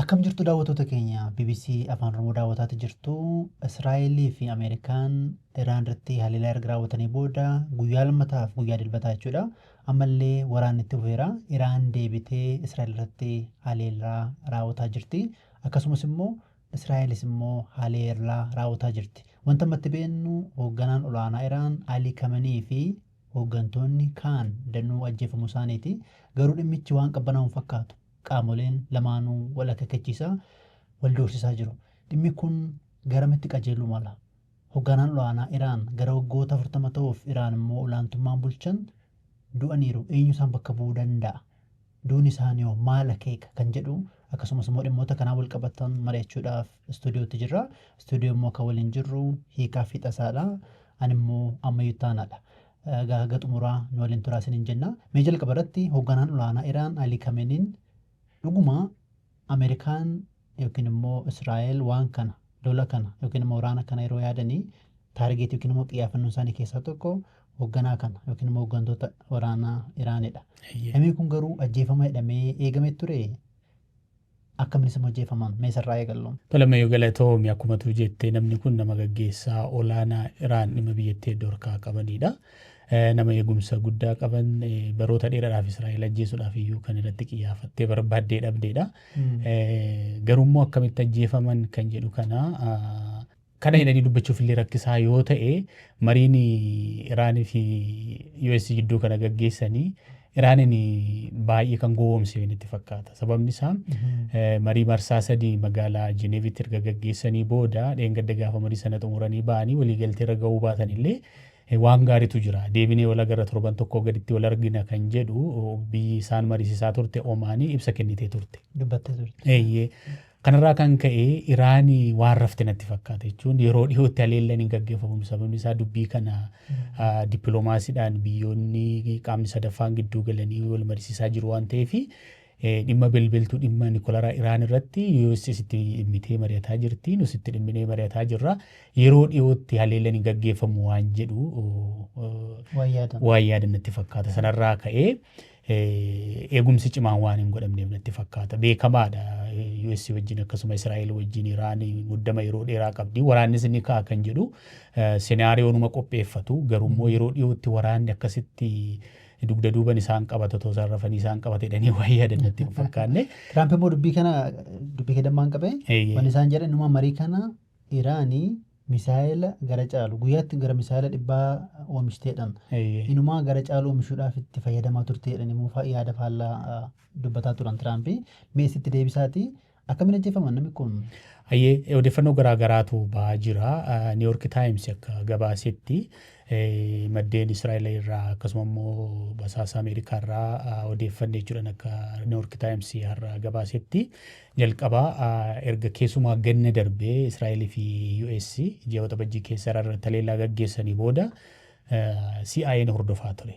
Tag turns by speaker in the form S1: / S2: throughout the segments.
S1: Akkam jirtu daawwatoota keenya bbc Afaan Oromoo daawwataati jirtu. Israa'el fi Ameerikaan Iraan irratti haleellaa erga raawwatanii booda guyyaa lammataaf guyyaa dilbataa jechuudha. Ammallee waraanni itti fufeera. Iraan deebitee Israa'el irratti haleellaa raawwataa jirti. Akkasumas immoo Israa'elis immoo haleellaa raawwataa jirti. Wanta ammatti beennu hoogganaan olaanaa Iraan Alii Kamanii fi hooggantoonni kaan danuu ajjeefamuu isaaniiti. Garuu dhimmichi waan qabbanaa'u hin fakkaatu. qaamoleen lamaanuu wal akeekkachiisaa, wal doorsisaa jiru. Dhimmi kun garamitti qajeeluu mala? Hogganaan ol'aanaa Iraan gara waggoota 40 ta'uuf Iraan immoo olaantummaan bulchan du'aniiru. Eenyu isaan bakka bu'uu danda'a? Duuni isaaniihoo maal akeeka? Kan jedhu akkasumas immoo dhimmoota kanaan wal qabatan mari'achuudhaaf istuudiyootti jirra. Istuudiyoo immoo kan waliin jirru Hiikaa fi Tasaadha. Ani immoo Ammayyuu Ittaanaadha. Egaa haga xumuraa nu waliin turaa isiniin jenna. Mee jalqaba irratti hoogganaan olaanaa Iraan Ali Kameniin dhuguma Ameerikaan yookiin immoo Israa'el waan kana lola kana yookiin immoo waraana kana yeroo yaadanii taargeetii yookiin immoo xiyyaafannoo isaanii keessaa tokko hoogganaa kana yookiin immoo hooggantoota waraanaa Iraanidha. Namni kun garuu ajjeefama jedhamee eegamee ture Akkamiin isin hojeefaman mee isarraa eegallu. Tole Mayo galatoomi
S2: akkuma tuu jette namni kun nama gaggeessaa olaanaa Iraan dhimma biyyattii heddu harkaa qabaniidha. Nama eegumsa guddaa qaban baroota dheeraadhaaf Israa'el ajjeesuudhaaf iyyuu kan irratti qiyyaafattee barbaaddee dhabdeedha. Garuummoo akkamitti ajjeefaman kan jedhu kana Kana jedhanii dubbachuuf illee rakkisaa yoo ta'e mariin Iraanii fi US jidduu kana gaggeessanii Iraaniin baay'ee kan gowwoomse itti fakkaata. Sababni isaa eh, marii marsaa sadii magaalaa Jineevitti erga gaggeessanii booda dheengadda gaafa marii sana xumuranii ba'anii waliigaltee irra ga'uu baatan illee eh, waan gaariitu jira. Deebinee wal agarra torban tokkoo gaditti wal argina kan jedhu oh, biyyi isaan mariisisaa turte Omaanii ibsa kennitee turte. Dubbattee turte.
S1: Eeyyee. Kanarraa kan
S2: ka'e Iraan waan rafte natti fakkaata jechuun yeroo dhiyootti haleellaan hin gaggeeffamu sababni isaa dubbii kana dippiloomaasiidhaan biyyoonni qaamni sadaffaan gidduu galanii wal mariisisaa jiru waan ta'eef dhimma belbeltuu dhimma nikolaraa Iraan irratti US itti dhimmitee mari'ataa jirti nus itti dhimminee mari'ataa jirra yeroo dhiyootti haleellaan hin gaggeeffamu waan jedhu waan yaadan natti fakkaata sanarraa ka'ee eegumsi cimaan waan hin godhamneef natti fakkaata. Beekamaadha. US wajjin akkasuma Israa'el wajjin Iraan muddama yeroo dheeraa qabdi. Waraannis ni ka'a kan jedhu senaariyoonuma qopheeffatu. Garuu immoo yeroo dhiyootti waraanni akkasitti dugda duuban isaan qabata otoo isaan rafanii isaan qabata jedhanii waan yaadan natti hin fakkaanne. Tiraamp immoo dubbii kana
S1: dubbii kedammaan qabee Eeyyee. wanni isaan jedhan dhuma marii kana Iraan misaayela gara caalu, guyyaatti gara misaayela dhibbaa oomishtee jedhan. Eeyyee. Inumaa gara caalu oomishuudhaaf itti fayyadamaa turte jedhanii immoo fa- yaada faallaa ah, dubbataa turan Tiraampi. Mee isitti deebisaati akkamiin ajjeefaman namni kun? Hayyee odeeffannoo
S2: garaa garaatu ba'aa jira. Ah, New York Times akka gabaasetti eh, maddeen Israa'el irraa akkasuma immoo basaasa Ameerikaa irraa ah, odeeffanne jechuudhaan akka New York Times har'a gabaasetti Jalqaba erga keesumaa ganna darbe Israa'el fi US ji'a Waxabajjii keessa Iraan irratti haleellaa gaggeessanii booda CIA'n hordofaa ture.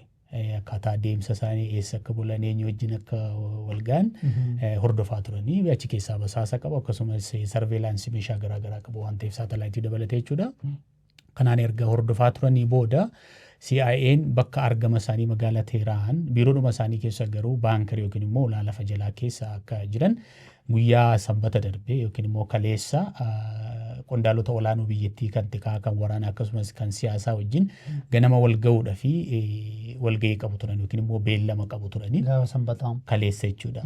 S2: Akkaataa deemsa isaanii eessa akka bulan eenyu wajjin akka wal ga'an hordofaa turanii achi keessaa basaasa qabu akkasumas sarveelaansii meeshaa garaagaraa qabu waan ta'eef saatalaayitii dabalatee jechuudha. Kanaan erga hordofaa turanii booda CIA'n bakka argama isaanii magaalaa Teeraan biiroodhuma isaanii keessa garuu baankar yookiin immoo ulaa lafa jalaa keessa akka jiran guyyaa sanbata darbee yookiin immoo kaleessa qondaalota olaanoo biyyattii kan tikaa kan waraanaa akkasumas kan siyaasaa wajjin ganama wal ga'uudha fi walga'ii qabu turan yookiin immoo beellama qabu turanii Gaafa sanbataa. kaleessa jechuudha.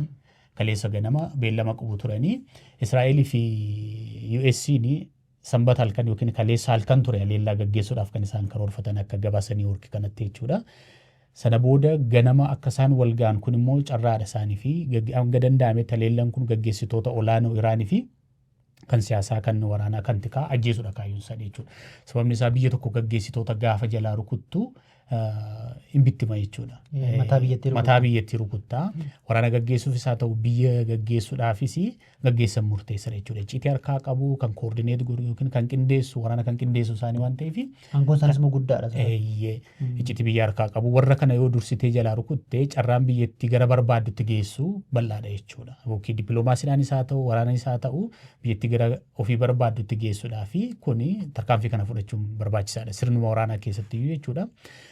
S2: Kaleessa ganama beellama qabu turanii Israa'elii fi US'n Sanbata halkan ykn kaleessa halkan ture haleellaa gaggeessuudhaaf kan isaan karoorfatan akka gabaasa New York kanatti jechuudha. Sana booda ganama akka isaan wal ga'an kun immoo carraadha isaanii fi hanga danda'ametti haleellaan kun gaggeessitoota olaanoo Iraanii fi kan siyaasaa kan waraanaa kan tikaa ajjeesudha kaayyoon isaanii jechuudha. Sababni isaa biyya tokko gaggeessitoota gaafa jalaa rukuttu hin bittima jechuudha. Mataa biyyattii rukutta. Mataa biyyattii rukutta. Waraana gaggeessuufis haa ta'u biyya gaggeessuudhaafis gaggeessan murteessan jechuudha. Icciitii harkaa qabu kan koordineet godhu yookiin kan qindeessu waraana kan qindeessu isaanii waan ta'eef. Aangoon isaaniis immoo guddaadha.
S1: Eeyyee icciitii
S2: biyya harkaa qabu warra kana yoo dursitee jalaa rukutte carraan biyyattii gara barbaaddutti geessu bal'aadha jechuudha. Yookiin dippiloomaasiidhaanis haa ta'u waraananis haa ta'u biyyattii gara ofii barbaaddutti geessudha fi kuni tarkaanfii kana fudhachuun barbaachisaadha sirnuma waraanaa keessatti iyyuu jechuudha.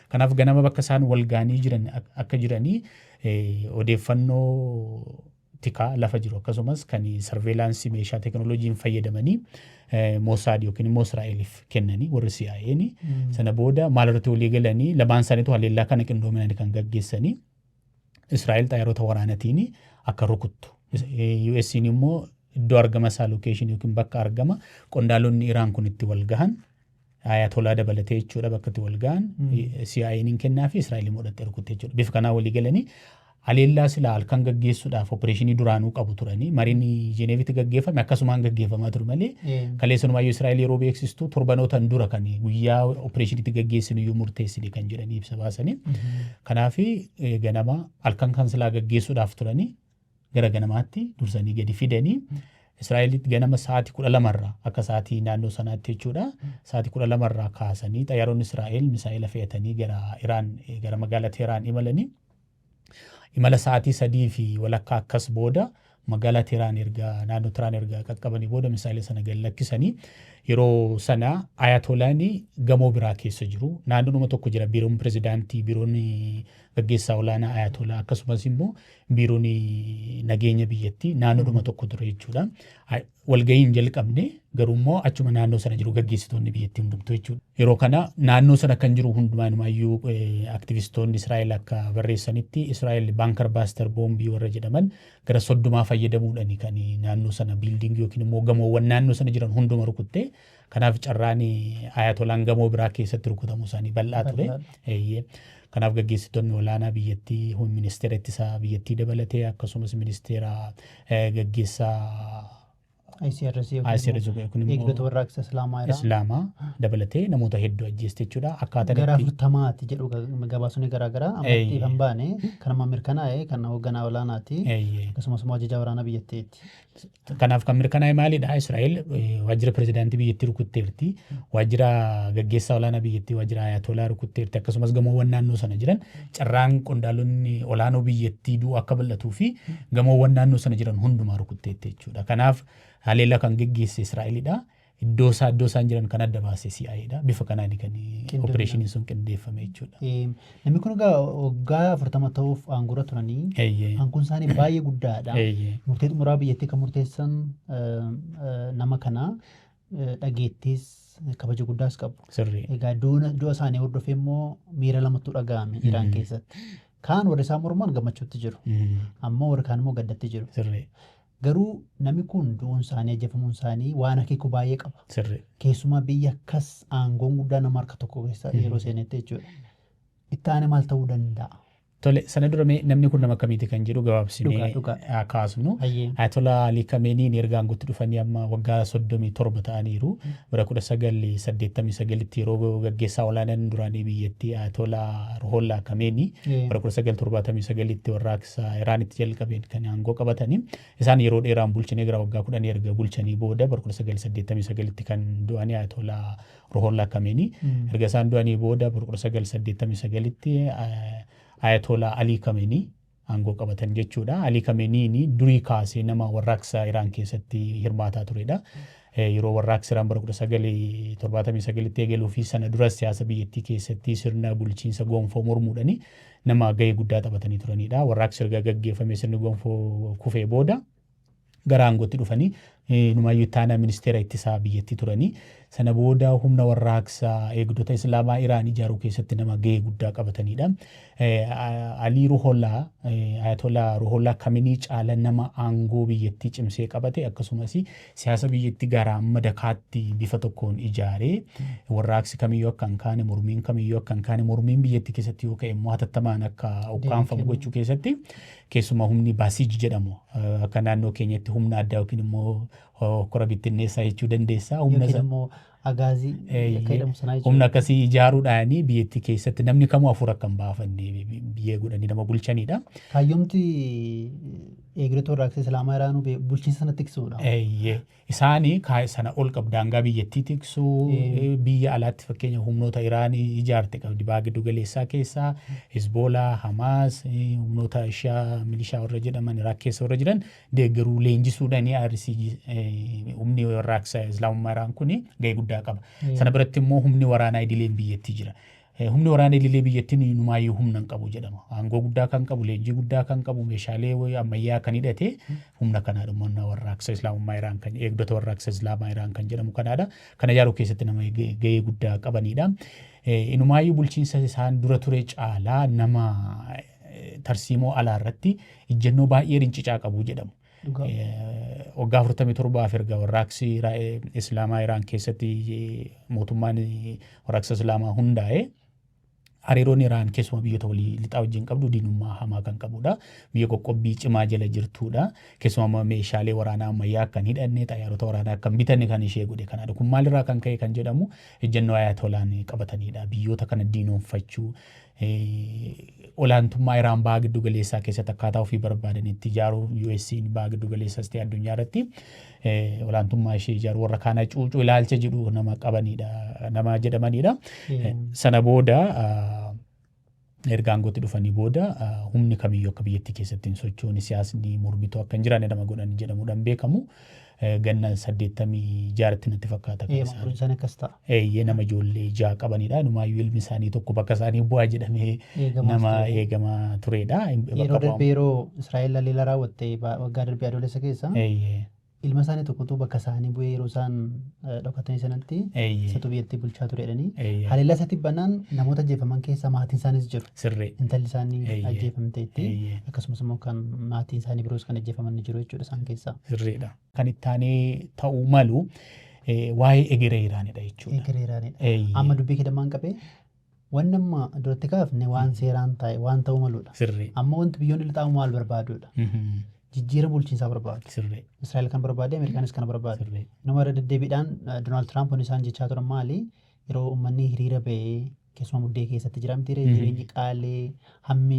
S2: Kanaaf ganama bakka isaan wal ga'anii jiran ak- akka jiranii eh, odeeffannoo tikaa lafa jiru akkasumas kan sarveelaansii meeshaa teekinooloojiin fayyadamanii eh, Mosaad yookiin immoo Israa'eliif kennanii warri CIA'n sana booda maal irratti walii galanii lamaan isaaniitu haleellaa kana qindoominaan kan gaggeessanii Israa'el xayyaarota waraanatiin akka rukuttu. US'n immoo iddoo argama isaa lookeeshinii yookiin bakka argama qondaalonni Iraan kun itti wal gahan ayatolaa dabalatee jechuudha bakka itti wal gahan CIA'n hin kennaa fi Israa'el immoo dhaxxee rukutte jechuudha. Bifa kanaa walii galanii haleellaa silaa halkan gaggeessuudhaaf opereeshinii duraanuu qabu turanii mariin Jeneevitti gaggeeffame akkasumaan gaggeeffamaa ture malee kaleessunumayyuu Israa'el yeroo beeksistu torbanootan dura kan guyyaa opereeshiniitti gaggeessinu iyyuu murteessine kan jedhanii ibsa baasanii Kanaaf ganama halkan kan silaa gaggeessuudhaaf turanii gara ganamaatti dursanii gadi fidanii Israa'elitti ganama sa'aatii kudha lamarraa akka sa'aatii naannoo sanaatti jechuudha. Sa'aatii kudha lamarraa kaasanii xayyaaronni Israa'el misaa'ela fe'atanii gara Iraan gara magaalaa Teeraan imalanii imala sa'aatii sadii fi walakkaa akkas booda Magaalaa Tehraan erga naannoo Tehraan erga qaqqabanii booda misaayila sana gad lakkisanii yeroo sana Ayatolaani gamoo biraa keessa jiru. Naannoodhuma tokko jira biiroon pirezidaantii, biiroon gaggeessaa olaanaa Ayatolaa akkasumas immoo biiroon nageenya biyyattii naannoodhuma tokko ture jechuudha. walgahii hin jalqabne garuu immoo achuma naannoo sana jiru gaggeessitoonni biyyattii hundumtuu jechuudha. Yeroo kana naannoo sana kan jiru hundumaa inumaayyuu aktivistoonni Israa'el akka barreessanitti Israa'el baankar baaster boombii warra jedhaman gara soddomaa fayyadamuudhaan kan naannoo sana biildiingii yookiin immoo gamoowwan naannoo sana jiran hunduma rukuttee Kanaaf carraan Ayatolaan gamoo biraa keessatti rukutamuu isaanii bal'aa ture. Eeyyee. Kanaaf gaggeessitoonni olaanaa biyyattii hum- ministeera ittisaa biyyattii dabalatee akkasumas ministeera eh, gaggeessaa
S1: ICRC ICRC kun immoo- eegdota warraaqsa Islaamaa irraa Islaamaa dabalatee namoota
S2: hedduu ajjeeste jechuudha. Akkaataa gara itti afurtamaati
S1: jedhu ga- gabaasonni garaagaraa Eeyyee. ammatti kan baane kan amma mirkanaa'e kan hoogganaa olaanaati Eeyyee. akkasumas immoo ajajaa waraanaa biyyattiiti. Kanaaf kan
S2: mirkanaa'e maalidha? Israa'el waajjira pirezidaantii biyyattii rukutteerti. Waajjira gaggeessaa olaanaa biyyattii waajjira Ayatolaa rukutteerti. Akkasumas gamoowwan naannoo sana jiran carraan qondaalonni olaanoo biyyattii du'u akka bal'atuu fi gamoowwan naannoo sana jiran hundumaa rukutteetti jechuudha. Kanaaf haleellaa kan geggeesse Israa'elidha. Iddoo isaa iddoo isaan jiran kan adda baase CIA dha. Bifa kanaan kan Qindoomina. opereeshiniin sun qindeeffame jechuudha. Eh, Namni kun egaa
S1: waggaa afurtama ta'uuf aangorra turanii Eeyyee. aangoon isaanii baay'ee guddaadha. Eeyyee. Murtee xumuraa biyyattii kan murteessan eh, eh, nama kana eh, dhageettiis kabaja guddaas qabu. Sirrii. Egaa duuna- du'a isaanii hordofee immoo miira lamatu dhaga'ame Iraan Mm. keessatti. Kaan warri isaan morman gammachuutti jiru. Mm. Ammoo warri kaan immoo gaddatti jiru. Sirrii. Garuu nami kun du'uun isaanii, ajjeefamuun isaanii waan akeeku baay'ee qaba. Sirrii. Keessumaa biyya akkas aangoon guddaa nama harka tokko keessa yeroo seenetti jechuudha. Itti aanee maal ta'uu danda'a? Tole, sana dura
S2: mee namni kun nama akkamiiti kan jedhu Dhugaa, gabaabsinee dhugaa. haa kaasnu. Hayyee. Ayatolaa Ali Khamenei'n erga aangootti dhufanii amma waggaa 37 ta'aniiru. Bara 1989tti yeroo gaggeessaa olaanaan duraanii biyyattii Ayatolaa Ruhollah Khamenei Ee. bara 1979tti warra Isa Iraanitti jalqabeen kan aangoo qabatanii isaan yeroo dheeraan bulchinee gara waggaa kudhanii erga bulchanii booda bara 1989tti kan du'anii Ayatolaa Ruhollah Kameenii erga isaan du'anii booda bara 1989tti Ayatolaa Alii Kameenii aangoo qabatan jechuudha. Alii Kameeniin durii kaasee nama warraaqsa Iraan keessatti hirmaataa turedha. Yeroo warraaqsi Iraan bara 1979tti eegaluu fi sana duras siyaasa biyyattii keessatti sirna bulchiinsa gonfoo mormuudhani nama gahee guddaa taphatanii turanidha. Warraaqsi erga gaggeeffamee sirni gonfoo kufee booda gara aangootti dhufanii numaayyuu itti aanaa ministeera ittisaa biyyattii turanii sana booda humna warraaqsa eegdota islaamaa Iraan ijaaruu keessatti nama gahee guddaa qabatanidha. Alii Ruholaa, Ayatolaa Ruholaa Kaminii caala nama aangoo biyyattii cimsee qabate akkasumas siyaasa biyyatti garaa madakaatti bifa tokkoon ijaaree warraaqsi kamiyyuu akka hin kaane mormiin kamiyyuu akka hin kaane mormiin biyyatti keessatti yoo ka'e immoo hatattamaan akka ukkaanfamu gochuu keessatti keessumaa humni baasij jedhamu akka naannoo keenyatti humna addaa yookiin immoo hokkora bittinneessaa jechuu dandeessaa humna Yookiin immoo
S1: Agaazii akka Eeyyee. jedhamu sanaa
S2: jechuudha. Humna akkasii ijaaruudhaanii biyyattii keessatti namni kamuu hafuura akka hin baafanne biyyee godhanii nama bulchanidha. Kaayyomti
S1: eegdota warraaqsa Islaamaa Iraanuu bee- bulchiinsa sana tiksuudha. Eeyyee. Isaanii
S2: kaa- sana ol qabu daangaa biyyattii tiksuu Eeyyee. biyya alaatti fakkeenya humnoota Iraanii ijaarte qabdi baha giddu galeessaa keessaa Hizboolaa, Hamaas, eh, humnoota Ishaa milishaa warra jedhaman Iraaq keessa warra jiran deeggaruu, leenjisuudhaan IRC humni warraaqsa Islaamummaa Iraan kun gahee guddaa qaba. Sana biratti immoo humni waraanaa idileen biyyattii jira. Humni waraana idilee biyyattiin inumaayyuu humna hin qabu jedhama. Aangoo guddaa kan qabu, leenjii guddaa kan qabu, meeshaalee ammayyaa kan hidhate humna kanaadha. Humna warraaqsa Islaamummaa Iraan kan eegdota warraaqsa Islaamaa Iraan kan jedhamu kanaadha. Kana ijaaruu keessatti nama gahee guddaa qabanidha. Inumaayyuu bulchiinsa isaan dura ture caalaa nama tarsiimoo alaa irratti ijjennoo baay'ee rincicaa qabu jedhamu. Waggaa 47 erga warraaqsi Islaamaa Iraan keessatti mootummaan warraaqsa Islaamaa hundaa'e hariiroon Iraan keessumaa biyyoota walii lixaa wajjin qabdu diinummaa hamaa kan qabudha. Biyya qoqqobbii cimaa jala jirtudha. Keessumaa meeshaalee waraanaa ammayyaa akka hin hidhanne, xayyaarota waraanaa akka hin bitanne kan ishee godhe kanadha. Kun maalirraa kan ka'e kan jedhamu ejjennoo ayaatolaan qabatanidha. Biyyoota kana diinoomfachuu, olaantummaa Iraan baha giddu galeessaa keessatti akkaataa ofii barbaadanitti ijaaruu US'n baha giddu galeessas ta'e addunyaa irratti olaantummaa ishee ijaaruu warra kaana cuucuu ilaalcha jedhu nama qabanidha nama jedhamanidha. Sana booda erga aangootti dhufanii booda humni kamiyyuu akka biyyattii keessatti hin sochoone siyaasni mormituu akka hin jiraanne nama godhan jedhamuudhaan beekamu. Eh, Ganna saddeettamii jaaratti natti fakkaata kan Eeyyee, isaan. umuriin isaanii akkas ta'a.
S1: Eeyyee nama ijoollee
S2: ja'a qabanidha. Inumaayyuu ilmi isaanii tokko bakka isaanii bu'aa jedhamee Eegamaas nama ture. eegamaa turedha. Hin- bakka Yeroo bu'aa- darbe yeroo
S1: Israa'el haleellaa raawwatte ba- waggaa darbe adoolessa keessa Eeyyee, ilma isaanii tokkotu bakka isaanii bu'ee yeroo isaan eh, dhokatanii sanatti eeyyee, isatu biyyattii bulchaa ture jedhanii eeyyee. haleellaa isatti banaan namoota ajjeefaman keessa maatiin isaaniis jiru. Sirrii. Intalli isaanii
S2: Eeyyee.
S1: ajjeefamteetti. Eeyyee. Akkasumas immoo kan maatiin isaanii biroos kan ajjeefaman ni jiru jechuudha isaan keessaa. Sirriidha. Kan itti
S2: aanee ta'uu malu eh, waa'ee egeree Iraanidha jechuudha. Egereeraanidha. Eeyyee.
S1: Amma dubbii kedamaan qabee wanni amma duratti kaafne waan seeraan taa'e waan ta'uu maludha. Sirrii. Amma wanti biyyoonni
S2: lixaa
S1: maal barbaadudha? Mhm. Jijjiirama bulchiinsaa barbaadu. Sirrii. Israa'el kan
S2: barbaade
S1: Ameerikaanis kan barbaadu. Sirrii. Nama irra deddeebiidhaan Doonaald Tiraamp wanni isaan jechaa turan maali? Yeroo uummanni hiriira ba'ee Keessumaa muddee keessatti jiramti ree jireenyi qaalee hammi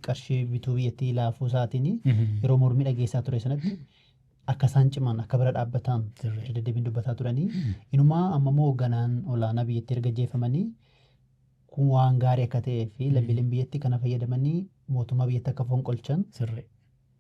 S1: qarshii bituu biyyattii laafuu isaatiin yeroo mormii dhageessaa ture sanatti akka isaan ciman akka bira dhaabbatan irra deddeebiin dubbataa turanii inumaa amma immoo hoogganaan olaanaa biyyattii erga jeeffamanii kun waan gaarii akka ta'ee fi lammiileen biyyatti kana fayyadamanii mootummaa biyyatti akka fonqolchan Sirrii.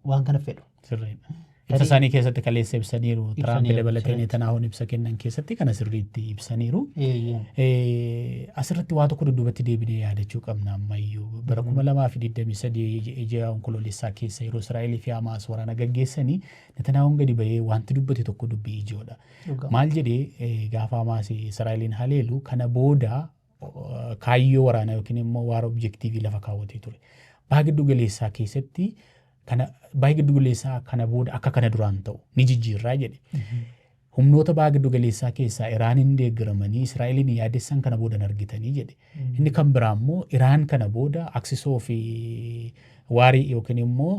S1: waan kana fedhu. Sirriidha. Ibsa
S2: isaanii keessatti kaleessa ibsaniiru. Tiraamp Ibsaniiru, dabalatee sirriitti. Netanaahuun ibsa kennan keessatti kana sirriitti ibsaniiru. Eeyyeen. Eh, Asirratti waa tokko dudduubatti deebinee yaadachuu qabna ammayyuu. Bara 2023 ija- ija onkoloolessaa keessa yeroo Israa'elii fi Hamaas waraana gaggeessanii Netanaahuun gadi bahee wanti dubbate tokko dubbii ijoodha. Dhugaa. Maal jedhee eh, gaafa Hamaas Israa'eliin haleelu kana booda kaayyoo waraanaa yookiin immoo waara objektiivii lafa kaawwatee ture. Baha giddu galeessaa keessatti kana baha giddu galeessaa kana booda akka kana duraan ta'u ni jijjiirraa jedhe. Humnoota baha giddu galeessaa keessaa Iraaniin deeggaramanii Israa'eliin yaadessan kana booda hin argitanii jedhe. Inni kan biraa immoo Iraan kana booda aksisoo fi waarii yookiin immoo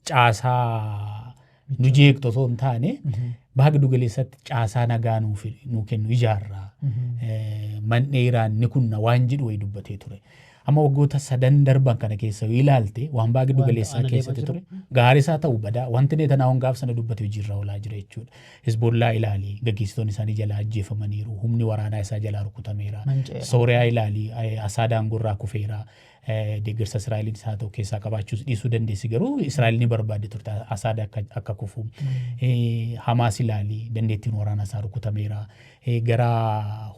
S2: caasaa nu jeeqxu osoo hin taane baha giddu galeessatti caasaa nagaa nuuf nu kennu ijaarra. Eh, Man'ee Iraan ni kunna waan jedhu wayii dubbatee ture. Amma waggoota sadan darban kana keessa yoo ilaalte waan baha giddu Waan galeessaa ta'an keessatti adeemaa ture gaarii isaa ta'u badaa wanti Netanaahuun gaaf sana dubbate hojiirra oolaa jira jechuudha. Hizbollaa ilaali gaggeessitoonni isaanii jalaa ajjeefamaniiru humni waraanaa isaa jalaa rukutameera. Manca'eera. Sooriyaa ilaali eh, Asaad aangoo irraa kufeera. Deeggarsa Israa'eliinis haa ta'u keessaa qabaachuus dhiisuu dandeessi garuu Israa'el ni barbaaddi turte Asaad akka, akka kufu. Eh, Hamaas ilaali dandeettiin waraanaa isaa rukutameera. Eh, Gara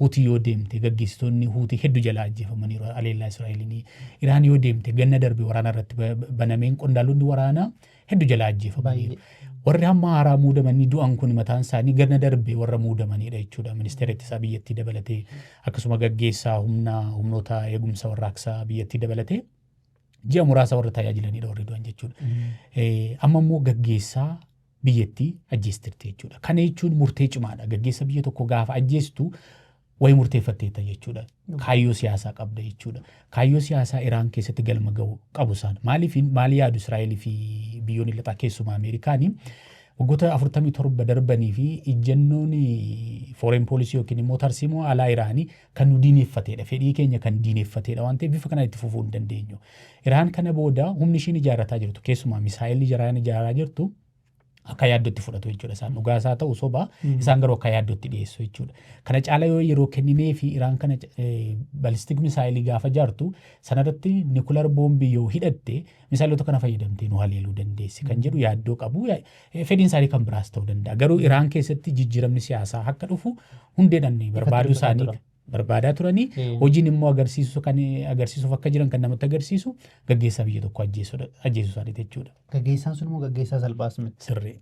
S2: Huutii yoo deemte gaggeessitoonni Huutii hedduu jalaa ajjeefamaniiru aleellaa Israa'eliin. Iraan yoo deemte ganna darbe waraana irratti ba- ba- banameen qondaalonni waraanaa heddu jalaa ajjeefamaniiru. Warri hamma haaraa muudamanii du'an kun mataan isaanii ganna darbe warra muudamanidha jechuudha. Ministeera ittisaa biyyattii dabalatee akkasuma gaggeessaa humna humnoota eegumsa warraaqsaa biyyattii dabalatee ji'a muraasa warra tajaajilanidha warri du'an jechuudha. Amma immoo gaggeessaa biyyattii ajjeestirti jechuudha. Kana jechuun murtee cimaadha. Gaggeessa biyya tokko gaafa ajjeestu Wayi murteeffatteetta jechuudha. Kaayyoo siyaasaa qabda jechuudha. Kaayyoo siyaasaa Iraan keessatti galma ga'u qabu isaan. Maaliif maal yaadu Israa'el fi biyyoonni lixaa keessumaa Ameerikaanii waggoota 47 darbanii fi ijjannoon fooreen poolisii yookiin immoo tarsiimoo alaa Iraanii kan nu diineffateedha. Fedhii keenya kan diineffateedha waan ta'eef bifa kanaan itti fufuu hin dandeenyu. Iraan kana booda humni ishiin ijaarrataa jirtu keessumaa misaa'elli Iraan ijaaraa jirtu akka yaaddootti fudhatu jechuudha isaan dhugaa isaa ta'u soba isaan garuu akka yaaddootti dhiyeessu jechuudha. Kana caala yoo yeroo kenninee fi Iraan kana balistik misaayilii gaafa jaartu sanarratti nikular boombii yoo hidhatte misaayilota kana fayyadamtee nu haleeluu dandeessi kan jedhu yaaddoo qabu fedhiin isaanii kan biraas ta'uu danda'a. Garuu Iraan keessatti jijjiiramni siyaasaa akka dhufu hundeedhaan barbaaduu isaanii barbaadaa turanii hojiin immoo agarsiisu kan agarsiisuuf akka jiran kan namatti agarsiisu gaggeessaa biyya tokko ajjeesudha ajjeesuu isaaniiti jechuudha. Gaggeessaan sun immoo gaggeessaa
S1: salphaas miti. Sirrii.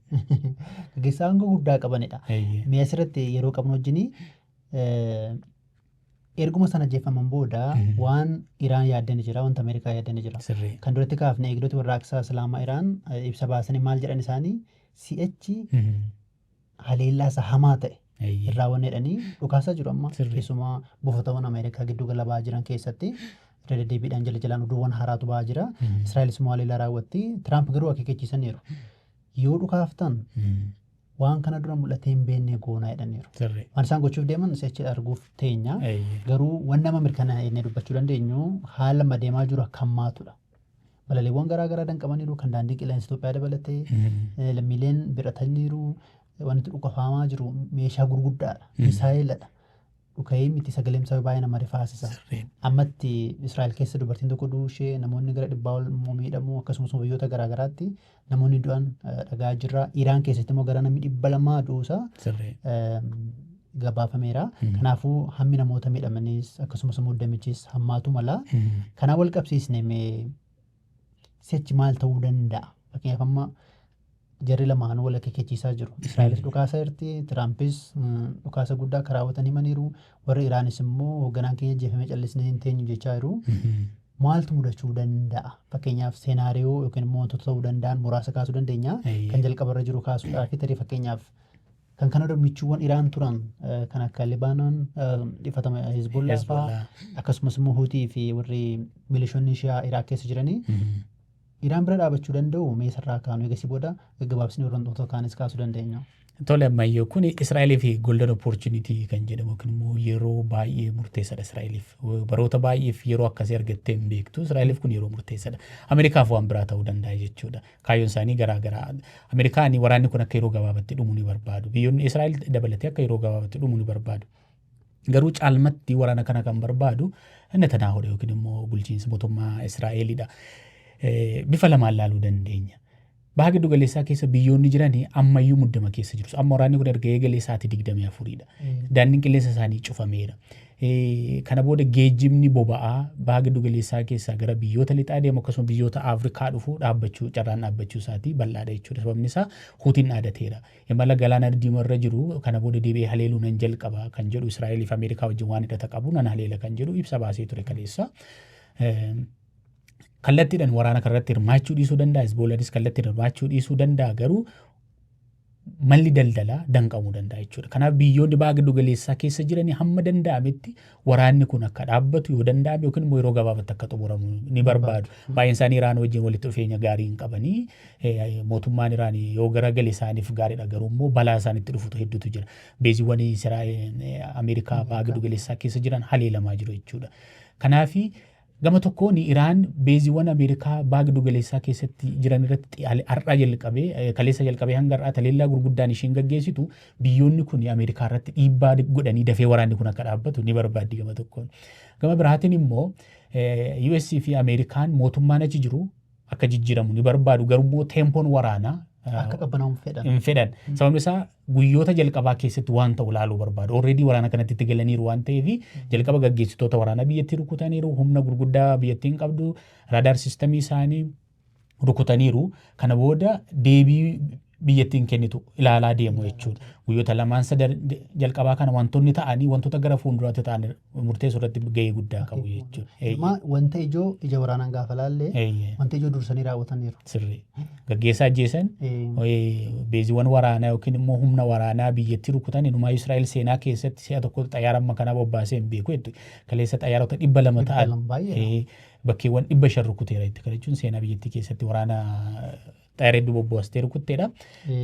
S2: Gaggeessaa
S1: aangoo guddaa qabanidha. Eeyyee. Mee asirratti yeroo qabnu wajjin erguma sana jeeffaman booda Mhm. waan Iraan yaaddani jira, wanta Ameerikaa yaaddani jira. Sirrii. Kan duratti kaafne eegdota warraaqsaa Islaamaa Iraan eh, ibsa baasanii maal jedhan isaanii si'achi Mhm. haleellaa isa hamaa ta'e Eeyyee. irraa wanni jedhanii dhukaasaa jiru amma Sirrii. keessumaa buufatawwan Ameerikaa giddu gala ba'aa jiran keessatti irra deddeebiidhaan jala jalaan oduuwwan haaraatu ba'aa jira. Mhm. Israa'elis immoo haleellaa raawwatti. Tiraamp garuu akeekkachiisaniiru. Yoo dhukaaftan Mm. waan kana dura mul'atee hin beekne goonaa jedhaniiru. Sirrii. Waan isaan gochuuf deeman si'achi arguuf teenya. Eeyyee. Garuu waan nama mirkanaa'e inni dubbachuu dandeenyu haala madeemaa jiru akka hammaatudha. Balaliiwwan garaa garaa danqamaniiru kan daandii qilleensa Itoophiyaa dabalatee eh, lammiileen biratanniiru wanti dhukafaamaa jiru meeshaa gurguddaadha misaayeeladha dhuka'ee miti sagaleen isaa baay'ee nama rifaasisa Sirriin. ammatti Israa'el keessa dubartiin tokko du'uu ishee namoonni gara dhibbaa ol immoo miidhamuu akkasumas immoo biyyoota garaa garaatti namoonni du'an eh, dhagaa jirra. Iraan keessatti immoo gara namni dhibba lamaa du'uusaa Sirrii. eh, gabaafameera. Mm. Kanaafuu hammi namoota miidhamanis akkasumas immoo damichis hammaatu mala. Mm. Kanaa wal qabsiisne mee sichi maal ta'uu danda'a? Fakkeenyaaf amma jarri lamaan wal akeekkachiisaa jiru. Israa'elis dhukaasa irti, Tiraampis mm, dhukaasa guddaa akka raawwatan himaniiru. Warri Iraanis immoo hoogganaan keenya ajjeefamee callisnee hin teenyu jechaa jiru. Maaltu mudachuu danda'a? Fakkeenyaaf seenaariyoo yookiin immoo wantoota ta'uu danda'an muraasa kaasuu dandeenya. Eeyyee. Kan jalqabarra jiru kaasuudhaaf tarii fakkeenyaaf kan kana dura michuuwwan Iraan turan eh, kan akka Libaanon eh, dhifatama Hezbollaa fa'aa Hezbollah. akkasumas immoo Huutii fi warri milishoonni Shiyaa Iraaq keessa jiranii Mhm. Iraan bira dhaabachuu danda'uu? Mee isarraa haa kaanu eegasii booda gaggabaabsinee hordoftoota kaanis kaasuu dandeenya. Tole ammayyoo
S2: kun Israa'elii fi golden opportunity kan jedhamu yookiin immoo yeroo baay'ee murteessadha Israa'eliif. Baroota baay'eef yeroo akkasii argattee hin beektu. Israa'eliif kun yeroo murteessadha. Ameerikaaf waan biraa ta'uu danda'a jechuudha. Kaayyoon isaanii garaa garaa. Ameerikaan waraanni kun akka yeroo gabaabatti dhumu ni barbaadu. Biyyoonni Israa'el dabalatee akka yeroo gabaabatti dhumu ni barbaadu. Garuu caalmatti waraana kana kan barbaadu Netanaahoodha yookiin immoo bulchiinsa mootummaa Israa'eelidha. Bifa lamaan laaluu dandeenya. Baha giddu galeessaa keessa biyyoonni jiran ammayyuu muddama keessa jiru. Amma waraanni kun erga eegalee sa'aatii digdamii afuridha. Daandiin qilleensa isaanii cufameera. Kana booda geejjibni boba'aa baha giddu galeessaa keessaa gara biyyoota lixaa deemu akkasuma biyyoota Afrikaa dhufu dhaabbachuu carraan dhaabbachuu isaatii bal'aadha jechuudha. Sababni isaa huutiin dhaadateera. Imala Galaana Diimaa irra jiru kana booda deebi'ee haleeluu nan jalqaba kan jedhu Israa'elii fi Ameerikaa wajjin waan hidhata qabu nan haleela kan jedhu ibsa baasee ture kaleessa. Kallattiidhaan waraana kanarratti hirmaachuu dhiisuu danda'a. Hizboolaanis kallattiin hirmaachuu dhiisuu danda'a garuu malli daldalaa danqamuu danda'a jechuudha. Kanaaf biyyoonni baha giddu galeessaa keessa jiranii hamma danda'ametti Waraanni kun akka dhaabbatu yoo danda'ame yookiin immoo yeroo gabaabatti akka xumuramu ni barbaadu. Baay'een isaanii Iraan wajjin walitti dhufeenya gaarii hin qabanii. Eh, Mootummaan Iraan yoo garagale isaaniif gaariidha garuu immoo balaa isaanitti dhufutu hedduutu jira. Beeziiwwan Isiraa'el, eh, Ameerikaa baha giddu galeessaa keessa jiran haleelamaa jiru jechuudha. Kanaafi Gama tokkoon Iraan beeziiwwan Ameerikaa baha giddu galeessaa keessatti jiran irratti har'aa jalqabee kaleessa jalqabee hanga har'aa taleellaa gurguddaan isheen gaggeessitu biyyoonni kun Ameerikaa irratti dhiibbaa godhanii dafee waraanni kun akka dhaabbatu ni barbaaddi gama tokkoon. Gama biraatiin immoo US fi Ameerikaan mootummaan achi jiru akka jijjiiramu ni barbaadu garummoo teempoon waraanaa Akka qabbanaa'u hin
S1: fedhan. hin fedhan.
S2: Sababni isaa guyyoota jalqabaa keessatti waan ta'u ilaaluu barbaadu. Already waraana kanatti itti galaniiru waan ta'eef jalqaba gaggeessitoota waraanaa biyyattii rukutaniiru, humna gurguddaa biyyattiin qabdu, raadaar sistamii isaanii rukutaniiru. Kana booda deebii biyyattiin kennitu ilaalaa deemu jechuudha. Guyyoota lamaan sadan jalqabaa kana wantoonni ta'anii wantoota gara fuulduraatti ta'an murteessuu irratti gahee guddaa qabu jechuudha. Amma wanta ijoo
S1: ija waraanaan gaafa laallee wanta ijoo dursanii raawwataniiru. Sirrii.
S2: Gaggeessaa ajjeesan beeziiwwan waraanaa yookiin immoo humna waraanaa biyyattii rukutan inumaa Israa'el seenaa keessatti si'a tokko xayyaara amma kanaa bobbaasee hin beeku jettu. Kaleessa xayyaarota dhibba lama ta'an bakkeewwan dhibba shan rukuteera jetti. Kana jechuun seenaa biyyattii keessatti waraana Taayireedduu bobboostee rukutteedha.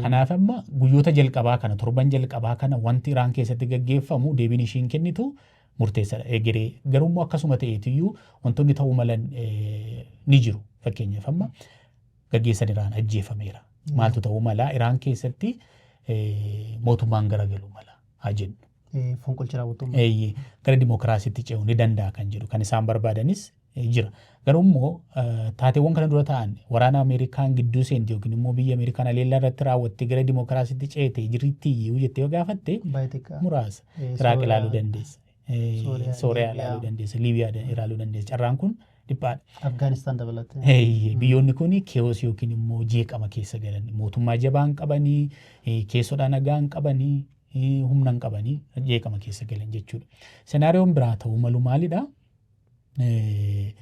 S2: Kanaaf amma guyyoota jalqabaa kana torban jalqabaa kana wanti Iraan keessatti gaggeeffamu deebiin ishiin kennitu murteessadha egeree. Garuu immoo akkasuma ta'eetiyyuu wantoonni ta'uu malan ni jiru. Fakkeenyaaf amma gaggeessan Iraan ajjeefameera. Maaltu ta'uu mala Iraan keessatti mootummaan garagaluu mala haa jennu. Fonqolchi raawwatamu.
S1: Gara dimookiraasiitti
S2: ce'uu ni danda'a kan jedhu kan isaan barbaadanis jira. Garuu immoo taateewwan kana dura ta'an waraana Ameerikaan gidduu seente yookiin immoo biyya Ameerikaan haleellaa irratti raawwatte gara dimookiraasiitti ceete jirti iyyuu jettee yoo gaafatte muraasa Iraaq ilaaluu dandeessa. Sooriyaa ilaaluu dandeessa. Liibiyaa ilaaluu dandeessa. Carraan kun dhiphaadha. Afgaanistaan
S1: dabalatee. Biyyoonni kun
S2: keewos yookiin immoo jeeqama keessa galan mootummaa jabaa hin qabanii keessodhaa nagaa hin qabanii humna hin qabanii jeeqama keessa galan jechuudha. Senaariyoon biraa ta'uu malu maalidhaa? eh,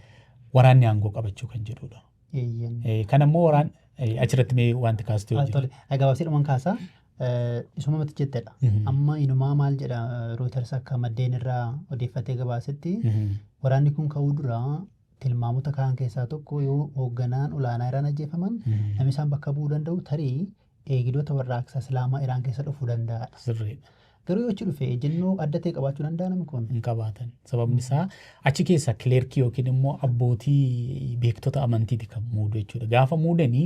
S2: waraanni aangoo qabachuu kan jedhudha. Eeyyen. Eh, Kan ammoo waraan eh, achirratti mee wanti kaastee Ah, hojjetu. Tole, Ah, gabaabsiidhumaan kaasaa
S1: eh, isuma matti jettedha. Mhm. Amma inumaa maal jedha Reuters akka maddeen irraa odeeffatee gabaasetti Mhm. waraanni kun ka'uu dura tilmaamota kaan keessaa tokko yoo hoogganaan olaanaa irraan ajjeefaman Mhm. namni isaan bakka bu'uu danda'u tarii eegidoota warraaqsa Islaamaa Iraan keessa dhufuu danda'a dha. Sirriidha. Garuu yoo achi dhufe ejjennoo adda ta'e qabaachuu danda'a namni kun? Hin qabaatan. Sababni
S2: isaa achi keessa kileerkii yookiin immoo abbootii beektota amantiiti kan muudu jechuudha. Gaafa muudanii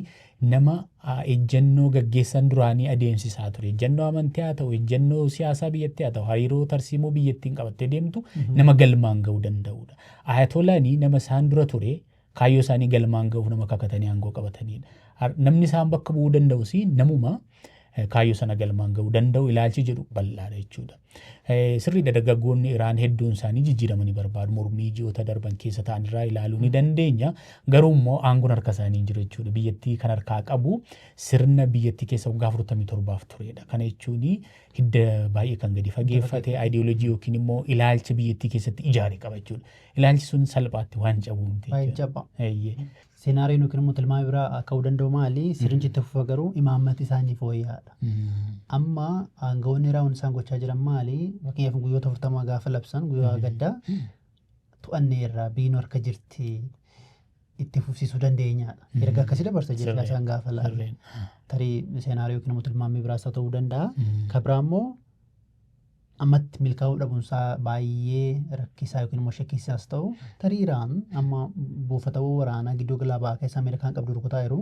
S2: nama ah, ejjennoo gaggeessan duraanii adeemsisaa ture. Ejjennoo amantii haa ta'u, ejjennoo siyaasaa biyyattii haa ta'u, hariiroo tarsiimoo biyyattiin qabattee deemtu nama galmaan ga'uu danda'udha. Ayatolaanii nama isaan dura ture Kaayyoo isaanii galmaan ga'uuf nama kakatanii aangoo qabataniidha. Har- Namni isaan bakka bu'uu danda'u si namuma eh, kaayyoo sana galmaan ga'uu danda'u ilaalchi jedhu bal'aadha jechuudha. Eh, Sirriidha dargaggoonni Iraan hedduun isaanii jijjiirama ni barbaadu. Mormii ji'oota darban keessa ta'an irraa ilaaluu ni dandeenya. Garuu immoo aangoon harka isaanii hin jiru jechuudha. Biyyattii kan harkaa qabu sirna biyyattii keessa waggaa 47f turedha. Kana jechuun hidda baay'ee kan gadi fageeffate, ideology yookiin immoo ilaalcha biyyattii keessatti ijaare qaba jechuudha. Ilaalchi sun salphaatti waan cabu miti Baay'ee jechuudha. jabba. Eeyyee.
S1: Seenaariyoon yookiin immoo tilmaama biraa ka'uu danda'u maali? Sirnichi itti fufa garuu imaammati isaa inni fooyya'aadha. Mm. Amma aangawoonni raawwan isaan gochaa jiran maali? Fakkeenyaaf guyyoota 40 gaafa labsan guyyaa gaddaa to'annee irraa biinuu harka jirti itti fufsiisuu dandeenyaadha. Erga akkasii dabarsa jechuudha Sirrii. isaan gaafa laala. Sirriin. Tarii seenaariyoo yookiin immoo tilmaamni biraas haa ta'uu danda'a. Mm. Kan biraa immoo ammatti milkaa'uu dhabuunsaa baay'ee rakkisaa yookiin immoo shakkisiisaas ta'u tarii Iraan amma buufatawwan waraanaa gidduu galaa ba'aa keessa Ameerikaan qabdu rukutaa jiru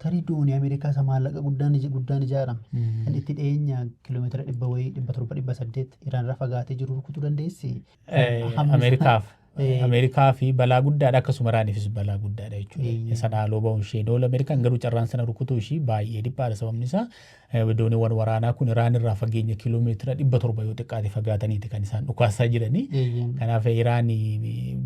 S1: tarii doonii Ameerikaa isa maallaqa guddaan ij- guddaan ijaarame kan itti dhiyeenya kiiloomeetira dhibba wayii dhibba torba dhibba saddeet Iraan irra fagaatee jiru rukutuu dandeessi. Eh, Hammi isaa- Ameerikaaf
S2: Ameerikaaf balaa guddaadha akkasuma Iraaniifis balaa guddaadha jechuudha. Sana haaloo ba'uun ishee doola Ameerikaan garuu carraan sana rukutuu ishii baay'ee dhiphaadha sababni isaa dooniiwwan waraanaa kun Iraan irraa fageenya kiiloomeetira dhibba torba yoo xiqqaate fagaataniiti kan isaan dhukaasaa jiranii. Kanaaf Iraan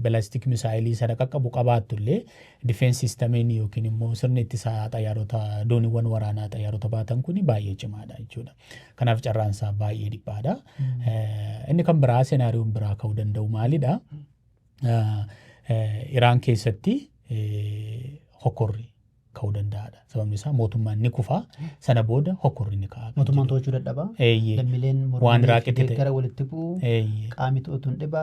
S2: balaastik misaayilii sana qaqqabu qabaattu illee difeensi sistamiin yookiin immoo sirni ittisaa xayyaarota dooniiwwan waraanaa xayyaarota baatan kun baay'ee cimaadha jechuudha. Kanaaf carraan isaa baay'ee dhiphaadha. Inni kan biraa senaariyoon biraa ka'uu danda'u maalidha? Iraan keessatti hokkorri ka'uu danda'aadha. Sababni isaa mootummaan ni kufa sana booda hokkorri ni ka'a. Mootummaan to'achuu dadhaba.
S1: Eeyyee. Lammiileen Waan mormanii fi Iraaqitti ta'e. deeggara walitti bu'u. Eeyyee. Qaamni to'atu hin dhiba.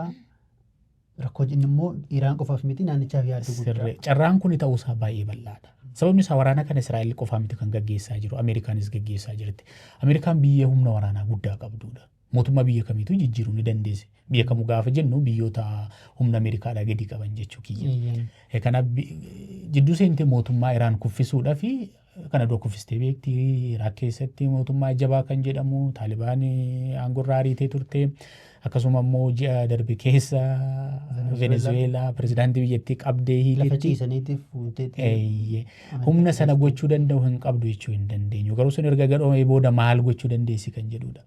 S1: Rakkoo jennu immoo Iraan qofaaf miti naannichaaf yaaddoo guddaa. Sirrii. Carraan kuni ta'uusaa
S2: baay'ee bal'aadha. Sababni isaa waraana kana Israa'el qofaa miti kan gaggeessaa jiru. Ameerikaanis gaggeessaa jirti. Ameerikaan biyya humna waraanaa guddaa qabduudha. Mootummaa biyya kamiituu jijjiiruu ni dandeessi. Biyya kamuu gaafa jennu biyyoota humna Ameerikaadhaa gadi qaban jechuu kiyya. Eeyyeen. Eh, Kanaaf bi- jidduu seentee mootummaa Iraan kuffisuudhaa fi Kan adoo kufistee beekti. Iraaq keessatti mootummaa jabaa kan jedhamu Taalibaan aangorraa ariitee turte. Akkasuma immoo ji'a darbe keessa Venezuweelaa pirezidaantii biyyattii qabdee Lafa hiitetti. ciisaniitiif fuuteetti. Eeyyee. Amantaa Humna sana keessatti. gochuu danda'u hin qabdu jechuu hin dandeenyu. Garuu sun erga gadhoomee booda maal gochuu dandeessi kan jedhudha.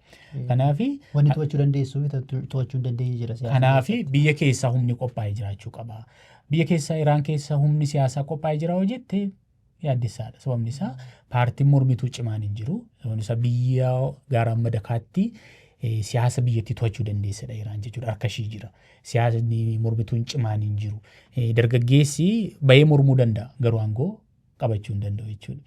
S2: Kanaaf Wanni to'achuu dandeessuu
S1: fi to- to'achuu hin dandeenye jira siyaasa Kanaaf keessatti. biyya keessaa
S2: humni qophaa'ee jiraachuu qaba. Biyya keessaa Iraan keessa humni siyaasaa qophaa'ee jira hoo jette yaaddessaadha. Sababni isaa paartiin mormituu cimaan hin jiru. Sababni isaa biyya gaara amma dakaatti siyaasa biyyattii to'achuu dandeessedha Iraan jechuudha. Harka ishii jira. Siyaasni mormituun cimaan hin jiru. Dargaggeessi bayee mormuu danda'a garuu aangoo qabachuu hin danda'u jechuudha.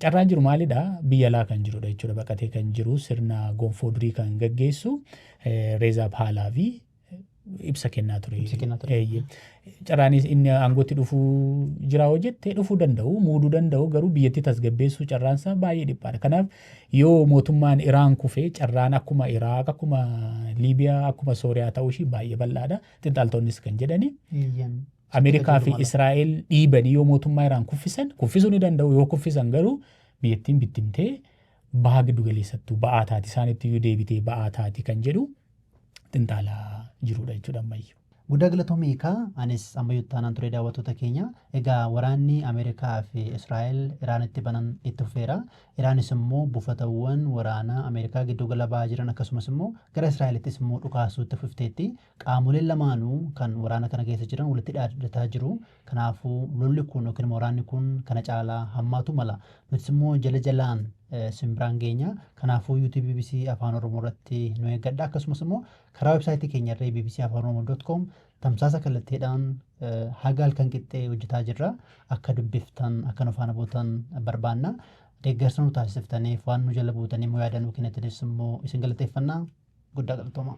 S2: Carraan jiru maalidha? Biyya alaa kan jirudha jechuudha. Baqatee kan jiru sirna gonfoo durii kan gaggeessu Reezaa Paalaavi ibsa kennaa ture. Ibsa kennaa ture. Eeyyee. Carraanis inni aangootti dhufuu jira hoo jette dhufuu danda'u, muuduu danda'u garuu biyyattii tasgabbeessuu carraan isaa baay'ee dhiphaadha. Kanaaf yoo mootummaan Iraan kufe carraan akkuma Iraaq, akkuma Liibiyaa, akkuma Sooriyaa ta'uu ishii baay'ee bal'aadha. Xinxaaltoonnis kan jedhani. Eeyyeen. Ameerikaa fi Jedhu Israa'el dhiibanii yoo mootummaa Iraan kuffisan, kuffisuu ni danda'u yoo kuffisan garuu biyyattiin bittimtee baha giddu galeessattuu ba'aa taati isaanitti iyyuu deebitee ba'aa taati kan jedhu xinxaalaa jiruudha jechuudha ammayyu. Guddaa
S1: galatoomii ekaa anis ammayyuu taanaan ture daawwattoota keenya egaa waraanni Ameerikaa fi Israa'el Iraanitti banan itti fufeera Iraanis immoo buufatawwan waraanaa Ameerikaa gidduu gala ba'aa jiran akkasumas immoo gara Israa'elittis immoo dhukaasuu itti fufteetti qaamoleen lamaanuu kan waraana kana keessa jiran walitti dhaaddataa jiru Kanaafuu lolli kun yookiin waraanni kun kana caalaa hammaatuu mala. Nutis immoo jala jalaan isin biraan geenya. Kanaafuu YouTube bbc Afaan Oromoo irratti nu eeggadha. Akkasumas immoo karaa websaayitii keenya irree bbcafaanoromo.com tamsaasa kallattiidhaan haga halkan qixxee hojjetaa jirra. Akka dubbiftan, akka nu faana buutan barbaanna. Deeggarsa nu taasiftaniif waan nu jala buutanii immoo yaada nuu kennitaniif immoo isin galateeffanna. Guddaa galatoomaa.